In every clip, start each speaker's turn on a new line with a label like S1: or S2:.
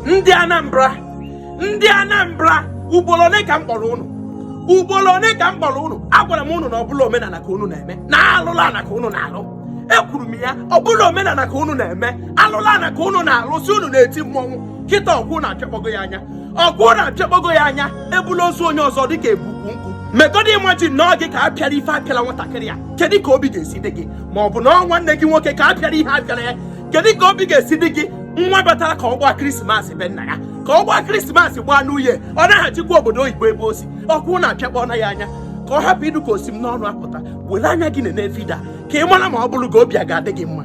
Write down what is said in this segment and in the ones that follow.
S1: ndị Anambra ndị Anambra ugboro ole ka m kpọrọ ụnụ ugboro ole ka m kpọrọ ụnụ agwara m ụnụ na ọbụla omenala ka ụnụ na-eme na alụla ana ka ụnụ na-alụ ekwuru m ya ọbụla omenala ka ụnụ na-eme alụla ana ka ụnụ na-alụ sị ụnụ na-eti mmọnwụ kịta ọkwa ụnụ apịakpọgo ya anya ọkwa ụnụ apịakpọgo ya anya ebula ozu onye ọzọ ọ dịka ebu ukwu nkụ megodi imagine na ọ gị ka a pịara ife apịala nwatakịrị a kedu ka obi ga-esi dị gị ma ọ bụ na ọ nwanne gị nwoke ka a pịara ihe apịara ya kedu ka obi ga-esi dị gị nwa batara ka ọ gbaa Christmas be nna ya ka ọ gbaa Christmas gbaa New Year ọ naghachikwa obodo oyibo ebe osi ọkwa ụnụ apịakpọna ya anya ka ọ hapụ ịdị ka osi m n'ọnụ apụta were anya gị nene video a ka ị mara ma ọ bụrụ gị obi a ga-adị gị mma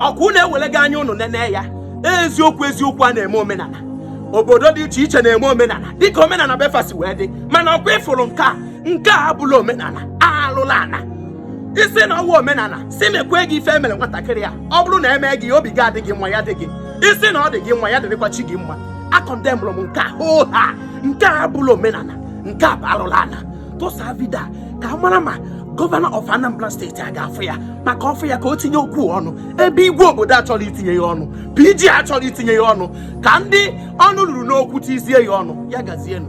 S1: ọkwa unu ewelego anya ụnụ nene ya eziokwu eziokwu a na-eme omenana obodo dị iche iche na-eme omenana dịka omenana be fa si wee dị mana ọkwa ị fụrụ nke a nke a abụla omenana alụla ana ị sị na ọ wụ omenana sị mekwe gị ife emere nwatakịrị a ọ bụrụ na eme gị obi gị adịghị mma ya dị gị ị sị na ọ dị gị mma ya dịrịkwa chi gị mma akọndemụrụ m nke a hoo ha nke a abụla omenana nke a bụ alụla ana tụsa video a ka a mara ma governor of Anambra State a ga-afụ ya maka ọ fụ ya ka o tinye okwu ọnụ ebe igwe obodo achọrọ itinye ya ọnụ PG achọrọ itinye ya ọnụ ka ndị ọnụ ruru n'okwu tinyezie ya ọnụ ya gazienụ